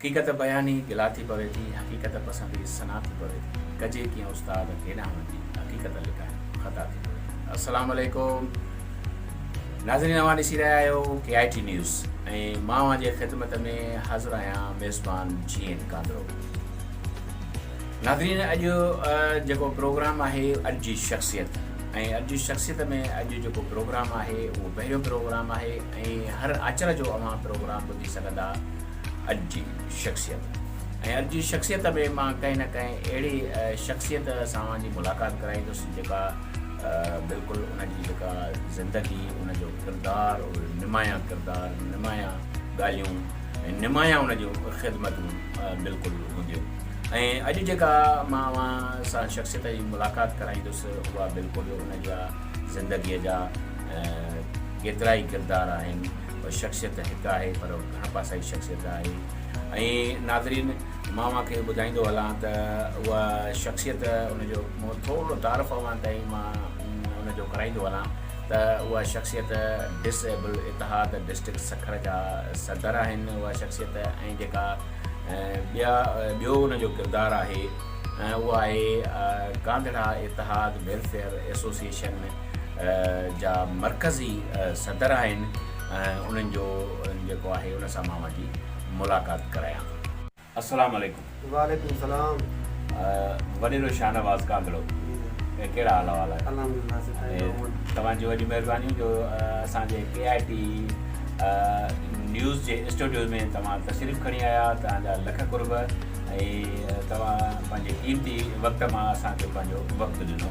حقيقت بياني گلا ٿي پوي ٿي، حقيقت پسندي سنا ٿي پوي ٿي، ڪجي ڪيئن استاد ڪيڏانهن وڃجي حقيقت لڪائڻ خطا ٿي پوي ٿي. السلام عليڪم ناظرين اوهان ڏسي رهيا آهيو ڪي آئي ٽي نيوز ۽ مان اوهان جي خدمت ۾ حاضر آهيان ميزبان جي اين ڪانڌرو ناظرين اڄ جيڪو پروگرام آهي اڄ جي شخصيت ۽ اڄ جي شخصيت ۾ اڄ جيڪو پروگرام آهي اهو پهريون پروگرام آهي ۽ هر آچر جو اوهان پروگرام ٻڌي سگهندا اڄ جي شخصيت ۽ اڄ جي شخصيت ۾ مان ڪنهن نه ڪنهن اهڙي شخصيت سان اوهان جي ملاقات ڪرائيندس جيڪا بلڪل ان جي جيڪا زندگي ان جو ڪردار نمايان ڪردار نمايان ڳالهيون ۽ نمايان ان جون خدمتون بلڪل هونديون ۽ اڄ جيڪا مان اوهان سان شخصيت جي ملاقات ڪرائيندس اها بلڪل ان جا زندگيء جا ڪيترا ئي ڪردار آهن شخصيت هڪ آهي پر گهڻ پاسائي شخصيت آهي ۽ ناظرين مان اوهان کي ٻڌائيندو هلان ته اها شخصيت ان جو ٿورو تعارف اوهان تائين مان ان جو ڪرائيندو هلان ته اها شخصيت ڊس ايبل اتحاد ڊسٽرڪٽ سکر جا صدر آهن اها شخصيت ۽ جيڪا ٻيا ٻيو ان جو ڪردار آهي اها آهي گانڌڙا اتحاد ويلفيئر ايسوسيشن جا مرڪزي صدر آهن انهن جو جيڪو آهي ان سان مان وڃي ملاقات ڪرايان ٿو. السلام عليڪم. وعليڪم السلام. وڏيرو شاهنواز ڪانگڙو ڪهڙا حال احوال آهن. الحمدلله سٺا آهيون. توهان جون وڏيون مهربانيون جو اسان جي ڪي آء ٽي نيوز جي اسٽوڊيو ۾ توهان تشريف کڻي آيا توهان جا لک قرب ۽ توهان پنهنجي قيمتي وقت مان اسان کي پنهنجو وقت ڏنو.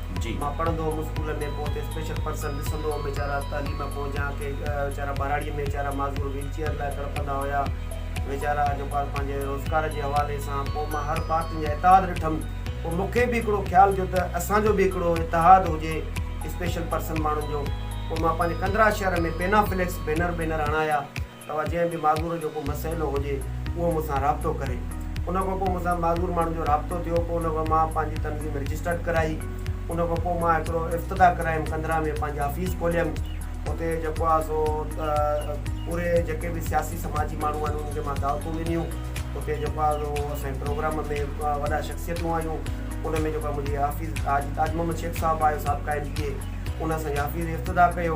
جي. مان پڙهندو هوم اسڪول ۾ پوء اتي اسپيشل پرسن ڏسندو هوم ويچارا تعليم کان جا ڪي ويچارا ٻهراڙي ۾ ويچارا معذور ويل چيئر لاء تڙپندا هيا ويچارا جو پار پنهنجي روزگار جي حوالي سان پوء مان هر بار تن جا اتحاد ڏٺم پوء مون کي به هڪڙو خيال جو ته اسان جو به هڪڙو اتحاد هجي اسپيشل پرسن ماڻهن جو پوء مان پنهنجي ڪندرا شهر ۾ پينا فليڪس بينر بينر هڻايا. توهان جنهن به معذور جو ڪو مسئلو هجي اهو مون سان رابطو ڪري. ان کان پوء مون سان معذور ماڻهن جو رابطو ٿيو پوء ان کان مان پنهنجي تنظيم رجسٽرڊ ڪرائي ان کان پوء مان هڪڙو افتتاح ڪرايم قندرا ۾ پنهنجي آفيس کوليم اتي جيڪو آ سو پوري جيڪي به سياسي سماجي ماڻهو آهن انهن کي مان دعوتون ڏنيون اتي جيڪو آ سو اسان جي پروگرام ۾ وڏا شخصيتون آيون ان ۾ جيڪو آ منهنجي آفيس تاج محمد شيخ صاحب آيو سابقا ايم پي اي ان اسان جي آفيس افتتاح ڪيو.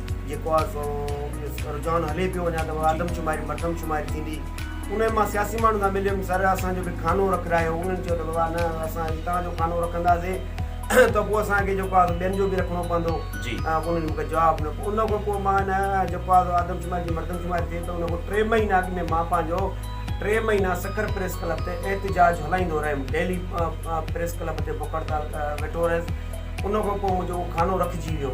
جيڪو آهي سو رجحان هلي پيو اڃا ته آدمشماري مردمشماري ٿيندي ان مان سياسي ماڻهن سان مليم سر اسان جو به کانو رکرايو انهن چيو ته بابا نه اسان هتان جو کانو رکنداسين ته پوء اسان کي جيڪو آهي ٻين جو به رکڻو پوندو انهن مون کي جواب ڏنو ان کان پوء مان هن جيڪو آهي آدمشماري جي مردمشماري ٿي ته ان کان ٽي مهينا اڳ ۾ مان پنهنجو ٽي مهينا سکر پريس ڪلب تي احتجاج هلائيندو رهيم ڊيلي پريس ڪلب تي بک هڙتال ويٺو رهيس ان کان پوء منهنجو کانو رکجي ويو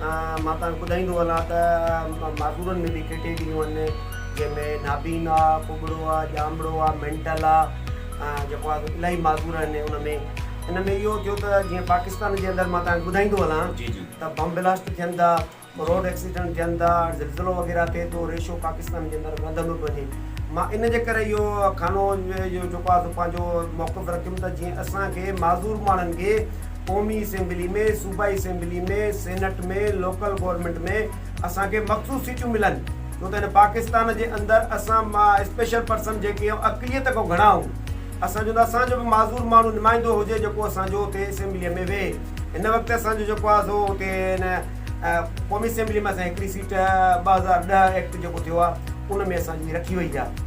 مان توهان کي ٻڌائيندو هلان ته معذورن ۾ به ڪيٽيگريون آهن جنهن ۾ نابينا آهي ڪٻڙو آهي ڄامڙو آهي مينٽل آهي جيڪو آهي سو الاهي معذور آهن ان ۾ ان ۾ اهو ٿيو ته جيئن پاڪستان جي اندر مان توهان کي ٻڌائيندو هلان ته بم بلاسٽ ٿين ٿا روڊ ايڪسيڊنٽ ٿين ٿا زلزلو وغيره ٿئي ٿو ريشو پاڪستان جي اندر وڌندو پيو وڃي مان ان جي ڪري اهو کانو جيڪو آهي سو پنهنجو موقف رکيم ته جيئن اسان کي معذور ماڻهن کي قومي اسيمبلي ۾، صوبائي اسيمبلي ۾، سينيٽ ۾، لوڪل گورنمينٽ ۾ اسان کي مخصوص سيٽيون ملن ڇو ته هن پاڪستان جي اندر اسان مان اسپيشل پرسن جيڪي آهيون اقليت کان گهڻا آهون اسان چون ٿا اسان جو به معذور ماڻهو نمائندو هجي جيڪو اسان جو اتي اسيمبلي ۾ ويهي هن وقت اسان جو جيڪو آهي سو اتي هن قومي اسيمبلي ۾ اسان هڪڙي سيٽ ٻه هزار ڏهه ايڪٽ جيڪو ٿيو آهي ان ۾ اسان جي رکي وئي آهي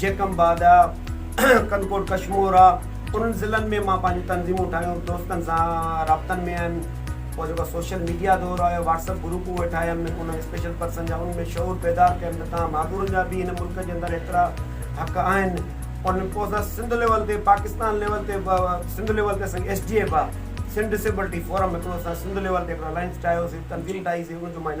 جيڪم باد آ، ڪنڪوٽ ڪشمور آ، انهن ضلعن ۾ مان پنهنجون تنظيمون ٺاهيون، دوستن سان رابطن ۾ آيم، پوء جيڪو سوشل ميڊيا دور آيو، واٽس اپ گروپ اهي ٺاهيم، انهن اسپيشل پرسن جا ان ۾ شعور بيدار ڪيم ته تان مهاڳورن جا به هن ملڪ جي اندر ايترا حق آهن، ان پوء اسان سنڌ ليول تي پاڪستان ليول تي به سنڌ ليول تي اسان ايس ڊي ايف آ، سنڌ ڊسيبلٽي فورم هڪڙو اسان سنڌ ليول تي هڪڙو الائنس ٺاهيوسي، تنظيم ٺاهي سي ان جو مان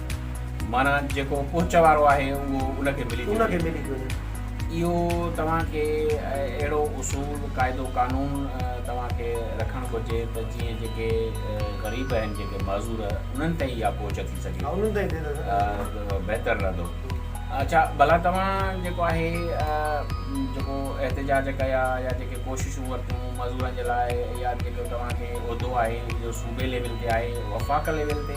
معنيٰ جيڪو پهچ وارو آهي اهو ان کي ملي ٿي وڃي. اهو توهان کي اهڙو اصول، قاعدو قانون توهان کي رکڻ گهرجي ته جيئن جيڪي غريب آهن، جيڪي معذور انهن تائين اها پهچ ٿي سگهي ته بهتر رهندو. اڇا ڀلا توهان جيڪو آهي جيڪو احتجاج ڪيا يا جيڪي ڪوششون ورتيون معذورن جي لاء يا جيڪو توهان کي عهدو آهي اهو صوبي ليول تي آهي، وفاق ليول تي؟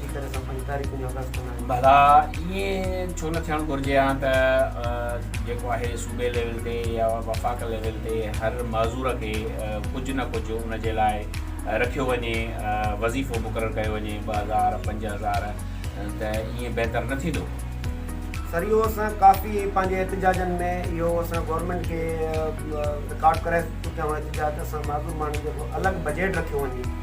ڀلا ائين ڇو نه ٿيڻ گهرجي ها ته جيڪو آهي صوبي ليول تي يا وفاق ليول تي هر معذور کي ڪجهه نه ڪجهه ان جي لاء رکيو وڃي وظيفو مقرر ڪيو وڃي ٻه هزار پنج هزار ته ائين بهتر نه ٿيندو سر اهو اسان ڪافي پنهنجي احتجاجن ۾ اهو اسان گورنمنٽ کي رڪارڊ ڪرائي چڪا آهيون احتجاج اسان معذور ماڻهن جو الڳ بجيٽ رکيو وڃي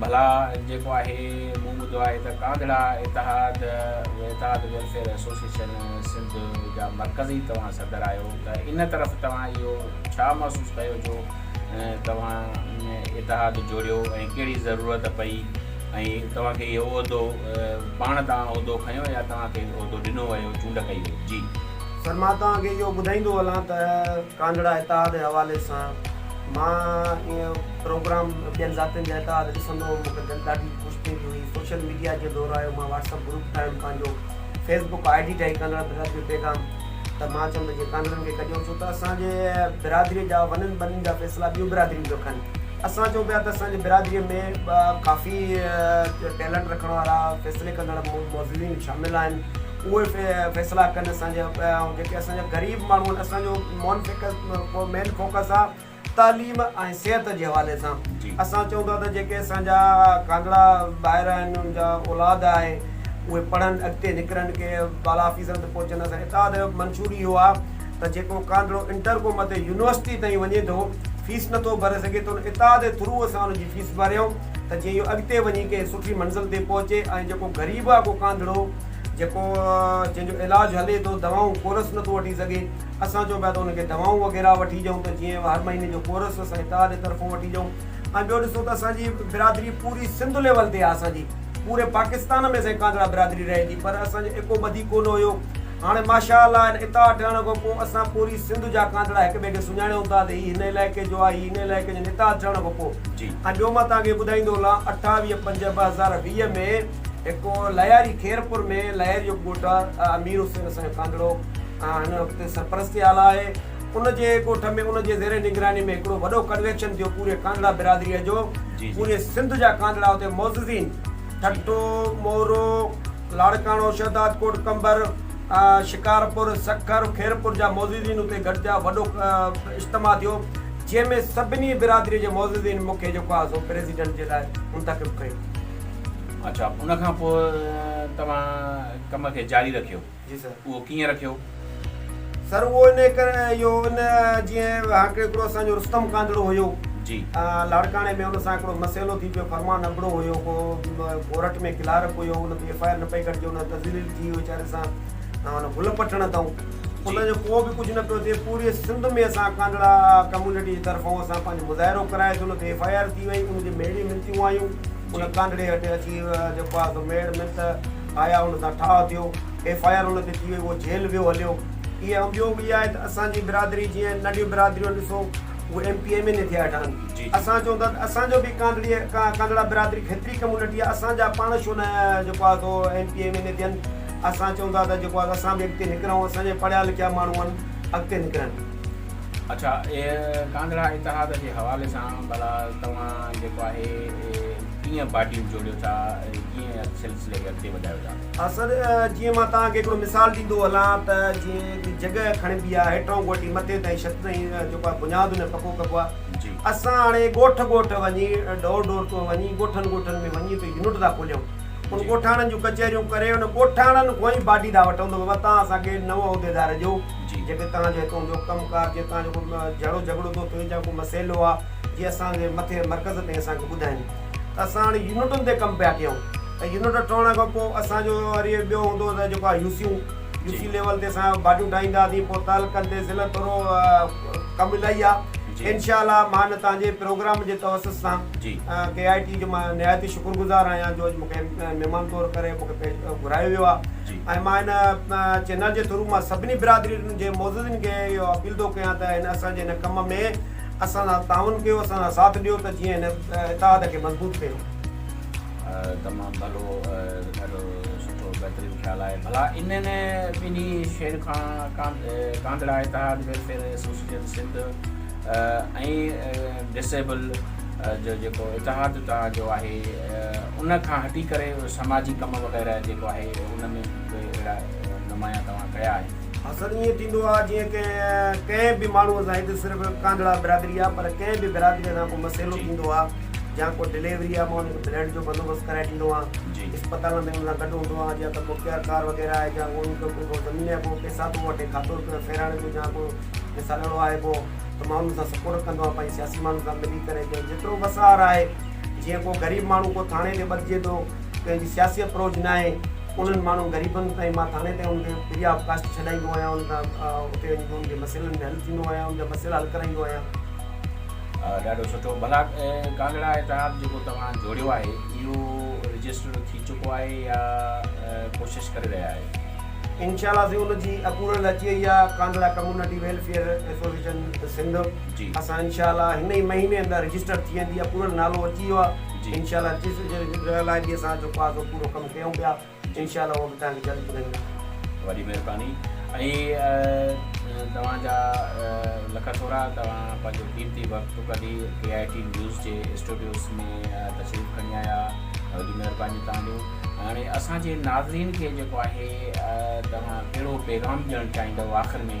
ڀلا جيڪو آهي مون ٻڌو آهي ته ڪانڌڙا اتحاد وحداد ويلفيئر ايسوسيئيشن سنڌ جا مرڪزي توهان صدر آهيو ته ان طرف توهان اهو ڇا محسوس ڪيو جو توهان اتحاد جوڙيو ۽ ڪهڙي ضرورت پئي ۽ توهان کي اهو عهدو پاڻ تان عهدو کنيو يا توهان کي عهدو ڏنو ويو چونڊ ڪئي وئي جي سر مان توهان کي اهو ٻڌائيندو هلان ته ڪانڊڙا اتحاد جي حوالي سان مان ايئن پروگرام ٻين ذاتين جا اتحاد ڏسندو هوم مون کي دل ڏاڍي خوش ٿيندي هئي سوشل ميڊيا جو دور آيو مان واٽس اپ گروپ ٺاهيم پنهنجو فيس بڪ آئي ڊي ٺاهي ڪانڊڙا برادري جو پيغام ته مان چيم ته جي ڪانڊڙن کي ڪڍيو ڇو ته اسان جي برادري جا ونن ٻنن جا فيصلا ٻيون برادريون پيو کن اسان چون پيا ته اسان جي برادري ۾ ڪافي ٽيلنٽ رکڻ وارا فيصلي ڪندڙ موجودين شامل آهن اهي فيصلا ڪن اسان جا ۽ جيڪي اسان جا غريب ماڻهو آهن اسان جو مون فيڪس مين فوڪس آ تعليم ۽ صحت جي حوالي سان اسان چئون ٿا ته جيڪي اسان جا ڪانگڙا ٻائر آهن ان جا اولاد آهي اهي پڙهن اڳتي نڪرن ڪي بالا آفيسرن تي پهچن اسان اتحاد جو منشور اهو آ ته جيڪو ڪانگڙو انٽر کان مٿي يونيورسٽي تائين وڃي ٿو فيس نٿو ڀري سگهي ته ان اتحاد جي ٿرو اسان ان جي فيس ڀريون ته جيئن اهو اڳتي وڃي ڪنهن سٺي منزل تي پهچي ۽ جيڪو غريب آ ڪو ڪانگڙو جيڪو جنهن جو علاج هلي ٿو دوائون ڪورس نٿو وٺي سگهي اسان چون پيا ته ان کي دوائون وغيره وٺي ڏيون ته جيئن هر مهيني جو ڪورس اسان اتحاد جي طرفون وٺي ڏيون ۽ ٻيو ڏسو ته اسانجي برادري پوري سنڌ ليول تي آهي اسانجي پوري پاڪستان ۾ سائين ڪانڌڙا برادري رهي ٿي پر اسانجو ايڪو ٻڌي ڪونه هيو هاڻي ماشاء الله هن اتحاد ٺهڻ کان پوء اسان پوري سنڌ جا ڪانڌڙا هڪ ٻئي کي سڃاڻيون ٿا ته هي هن علائقي جو آهي هي هن علائقي جو اتحاد ٺهڻ کان پوء ۽ ٻيو مان توهان کي ٻڌائيندو هلان اٺاويهه پنج ٻه هزار ويهه ۾ هڪ لهياري خيرپور ۾ لهياري جو ڳوٺ آهي امير حسين اسان جو ڪانڌڙو هن وقت سرپرستي آلا آهي ان جي ڳوٺ ۾ ان جي زير نگراني ۾ هڪڙو وڏو ڪنوينشن ٿيو پوري ڪانڌڙا برادري جو پوري سنڌ جا ڪانڌڙا اتي معززين ٺٽو مورو لاڙڪاڻو شهداد ڪوٽ قمبر شڪارپور سکر خيرپور جا معززين اتي گڏجا وڏو اجتماع ٿيو جنهن ۾ سڀني برادري جي معززين مون کي جيڪو آهي سو پريزيڊنٽ جي لاء منتخب ڪيو اڇا ان کان پوء توهان ڪم کي جاري رکيو. جي سر. اهو ڪيئن رکيو؟ سر اهو ان ڪري اهو ان جيئن هاڪڙي هڪڙو اسان جو رستم ڪانڌڙو هيو. جي. لاڙڪاڻي ۾ ان سان هڪڙو مسئلو ٿي پيو فرمان ابڙو هيو ڪو ڪورٽ ۾ ڪلارڪ هيو ان تي ايف آء آر نه پئي ڪٽجي ان تذليل ٿي ويچاري سان ان گل پٽڻ تائون ان جو ڪو به ڪجهه نه پيو ٿئي پوري سنڌ ۾ اسان ڪانڌڙا ڪميونٽي جي طرفون اسان پنهنجو مظاهرو ڪرايو سي ان تي ايف آء آر ٿي وئي ان جي ميڙي منٿيون آيون. ان ڪانڊڙي هٽ اچي جيڪو آهي سو ميڙ منت آيا ان سان ٺاهه ٿيو ايف آء آر ان تي ٿي وئي اهو جيل ويو هليو اهي ۽ ٻيو به اها آهي ته اسان جي برادري جيئن ننڍيون برادريون ڏسو اهي M P M N A ٿيا هيٺان اسان چون ٿا ته اسان جو به ڪانڊڙي ڪانڊڙا برادري کيتري ڪميونٽي آهي اسان جا پاڻ شو نه جيڪو آهي سو M P M N A ٿين اسان چون ٿا ته جيڪو آهي اسان به اڳتي نڪرون اسان جي پڙهيا لکيا ماڻهو آهن اڳتي نڪرن اڇا اي ڪانڌڙا اتحاد جي حوالي سان ڀلا توهان جيڪو آهي ڪيئن پارٽيون جوڙيو ٿا ۽ ڪيئن سلسلي کي اڳتي وڌايو ٿا؟ سر جيئن مان توهان کي هڪڙو مثال ڏيندو هلان ته جيئن هڪ جڳهه کڻبي آهي هيٺئون کوٽي مٿي تائين ڇت تائين جيڪو آهي بنياد ان جو پڪو ڪبو آهي جي اسان هاڻي ڳوٺ ڳوٺ وڃي ڊور ڊور ٽو وڃي ڳوٺن ڳوٺن ۾ وڃي ته يونٽ ٿا کوليون ان ڳوٺاڻن جون ڪچهريون ڪري ان ڳوٺاڻن کون ئي باڊي ٿا وٺون ته بابا توهان اسان کي نو عهديدار ڏيو جيڪي توهان جو هتون جو ڪم ڪار جي توهان جو ڪو جهڙو جهڳڙو ٿو ٿئي جا ڪو مسئلو آ جي اسان جي مٿي مرڪز تائين اسان کي ٻڌائين ته اسان هاڻي يونٽن تي ڪم پيا ڪيون ته يونٽ ٺهڻ کان پو اسان جو وري ٻيو هوندو هو ته جيڪو آ يوسيون يوسي ليول تي اسان باڊيون ٺاهيندا هئاسين پو تعلقن تي ضلعن ٿورو ڪم الائي آ انشاء الله مان هن توهان جي پروگرام جي توسط سان ڪي آئي ٽي جو مان نهايت شڪر گذار آهيان جو اڄ مون کي مهمان طور ڪري مون کي گهرايو ويو آ ۽ مان هن چينل جي ٿرو مان سڀني برادرين جي معززين کي اهو اپيل ٿو ڪيان ته هن اسان جي هن ڪم ۾ اسان سان تعاون ڪيو اسان سان ساٿ ڏيو ته جيئن هن اتحاد کي مضبوط ڪيون. تمام ڀلو ڏاڍو سٺو بهترين خيال آهي ڀلا انهن ٻنهي شين کان ڪانڌڙا اتحاد ويلفيئر ايسوسيئيشن سنڌ ۽ ڊسيبل جو جيڪو اتحاد توهان جو آهي ان کان هٽي ڪري سماجي ڪم وغيره جيڪو آهي ان ۾ به اهڙا نمايان توهان ڪيا آهن. حسن ائين ٿيندو آ جيئن ڪنهن ڪنهن به ماڻهوء سان هي ته صرف ڪانڌڙا برادري آ پر ڪنهن به برادريء سان ڪو مسئلو ٿيندو آ يا ڪو ڊليوري آ مان ان کي بليڊ جو بندوبست ڪرائي ڏيندو آهيان اسپتالن ۾ ان سان گڏ هوندو آهيان يا ته ڪو ڪيئر ڪار وغيره آهي جا ان کي ڪو ڪو زمين آهي ڪو پئسا ٿو وٺي کاتو روپيو ڦيرائڻ جو جا ڪو مثال اهڙو آهي ڪو ته مان ان سان سپورٽ ڪندو آهيان پنهنجي سياسي ماڻهن سان ملي ڪري جيترو وس آهر آهي جيئن ڪو غريب ماڻهو ڪو ٿاڻي تي ٻڌجي ٿو ڪنهن جي سياسي اپروچ نه آهي انهن ماڻهن غريبن تائين مان ٿاڻي تائين ان کي فري آف ڪاسٽ ڇڏائيندو آهيان ان کان اتي وڃي ان جي مسئلن ۾ حل ٿيندو آهيان ان جا مسئلا حل ڪرائيندو آهيان. ڏاڍو سٺو ڀلا ڪانگڙا اعتراف جيڪو توهان جوڙيو آهي اهو رجسٽر ٿي چڪو آهي يا ڪوشش ڪري رهيا آهيو؟ انشاء الله سائين ان جي اپروول اچي وئي آهي Kangra community welfare association Sindh. جي. اسان انشاء الله هن ئي مهيني اندر رجسٽر ٿي ويندي اپروول نالو اچي ويو آ جي. انشاء الله رجسٽر لاء به اسان جيڪو آ سو پورو ڪم ڪيون پيا انشاء الله هو به توهان کي جلد ٻڌائينداسين. وڏي مهرباني ۽ توهان جا لک ٿورا توهان پنهنجو قيمتي وقت ڪڍي ڪي آء ٽي نيوز جي اسٽوڊيوز ۾ تشريف کڻي آيا وڏي مهرباني توهان جون هاڻي اسان جي ناظرين کي جيڪو آهي توهان ڪهڙو پيغام ڏيڻ چاهيندؤ آخر ۾.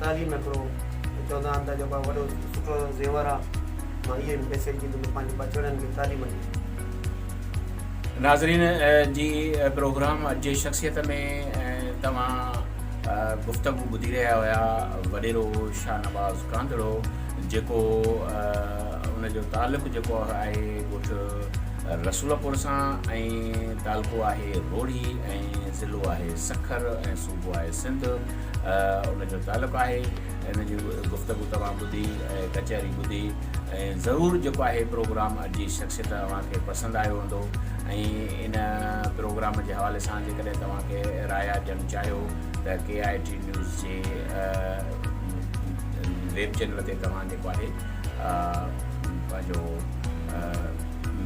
تعليم هڪڙو چوندا آهن ته جيڪو وڏو سٺو زيور آ مان اهي به پئسي جي ڏندو پنهنجي ٻچڙن کي تعليم ڏي. ناظرين جي پروگرام اڄ جي شخصيت ۾ توهان گفتگو ٻڌي رهيا هيا وڏيرو شاهنواز ڪانڌڙو جيڪو ان جو تعلق جيڪو آهي ڳوٺ رسول پور سان ۽ تعلقو آهي روڙي ۽ ضلعو آهي سکر ۽ صوبو آهي سنڌ ان جو تعلق آهي ان جي گفتگو توهان ٻڌي ۽ ڪچهري ٻڌي ۽ ضرور جيڪو آهي پروگرام اڄ جي شخصيت اوهان کي پسند آيو هوندو ۽ ان پروگرام جي حوالي سان جيڪڏهن توهان کي رايا ڏيڻ چاهيو ته ڪي آء ٽي نيوز جي ويب چينل تي توهان جيڪو آهي پنهنجو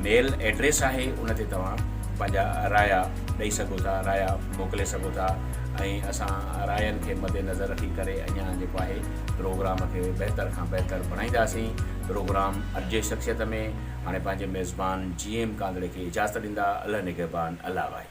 ميل ايڊريس آهي ان تي توهان پنهنجا رايا ڏئي سگهو ٿا رايا موڪلي سگهو ٿا ۽ اسان راين کي مد نظر رکي ڪري اڃان جيڪو آهي پروگرام کي بهتر کان بهتر بڻائينداسين پروگرام ارجي شخصيت ۾ هاڻي پنهنجي ميزبان جي ايم ڪانڌڙي کي اجازت ڏيندا الله نگهبان الله وائي.